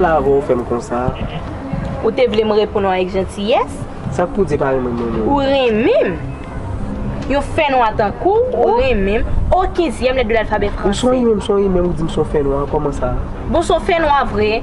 Kila avè w fè m konsa? Ou te vle m reponn ou avèk jantiyès? Sa k pou w di pa renmen m renmen w? Ou renmen m? Yon fè nwa tankou w, ou renmen m? O kinzyèm lèt de lalfabè franse! Ou son imè, m son imè, ou di m son fè nwa, kòman sa? Bon, w son fè nwa vre!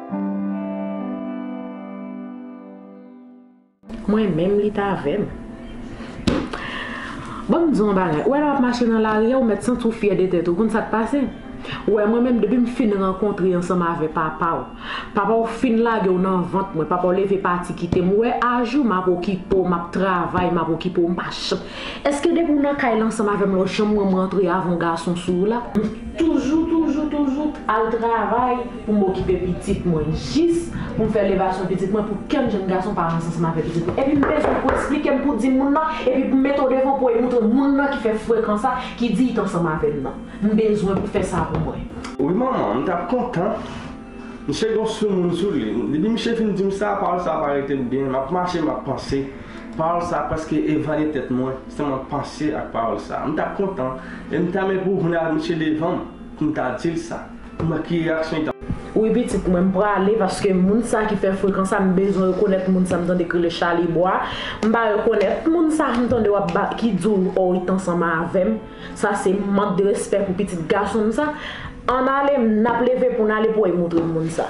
Mwen menm li t avèm. Bon m di w yon bagay, ou wè lè w ap mache nan lari a ou mèt santi w fyè de tèt ou, ou konn sa k pase? Ou wè mwen menm depi m fin rankontre ansanm avè papa w, papa w fin lage w nan vant mwen, papa w leve pati kite m, ou wè a jou m ap okipe w, m ap travay, m ap okipe w m pa janm, èske depi w nan kay la ansanm avè m la w janm wè m rantre avan w gason sou w la? M toujou toujou toujou t al travay. pou m okipe pitit mwen, jis pou m fè levasyon pitit mwen pou kè m jèn gason pa ranse ansanm avèk pitit mwen. Epi m bezwen pou w esplike m, pou w di moun nan, epi pou m mete w devan pou w montre moun nan ki fè frekan sa, ki di li t ansanm avè m nan. M bezwen pou w fè sa pou mwen. Wi manman, m t ap kontan. Misye gen yon soumoun sou li. Depi misye fin di m sa, pawòl sa a pa rete m byen. M ap mache, m ap panse. Pawòl sa a prèske evani tèt mwen, sèlman panse ak pawòl sa a. M t ap kontan, e m ta renmen pou w vin avèk misye devan m, pou m ta di l sa. Mwen ki reaksyon li ta. Wi pitit mwen m prale paske moun sa ki fè frekan sa m bezwen rekonèt moun sa m tande k rele Chalibwa m pa rekonèt moun sa m tande wap ba ki di w o ret ansanm avèm sa se mank de respè pou pitit gason m sa ann ale m nap leve pou n ale pou w moutre m moun sa.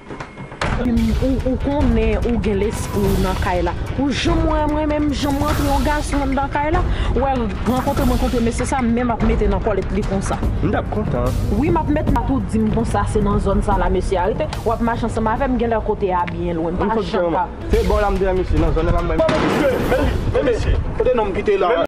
Ou konnen ou gen lespri ou nan kay la Ou janm wè mwen menm janm rantre yon gason anndan kay la Ou wè rankontre m rankontre mesye sa men m ap mete nan kòlèt li konsa M t ap kontan wi m ap mèt bat ou di m konsa se nan zòn sa la mesye a rete W ap mache ansanm avè m genlè kote a byen lwen m pa janm ka Se bò la m te wè mesye nan zòn nan la m bay mesye kout pye Men li men mesye kote nonm ki te la a.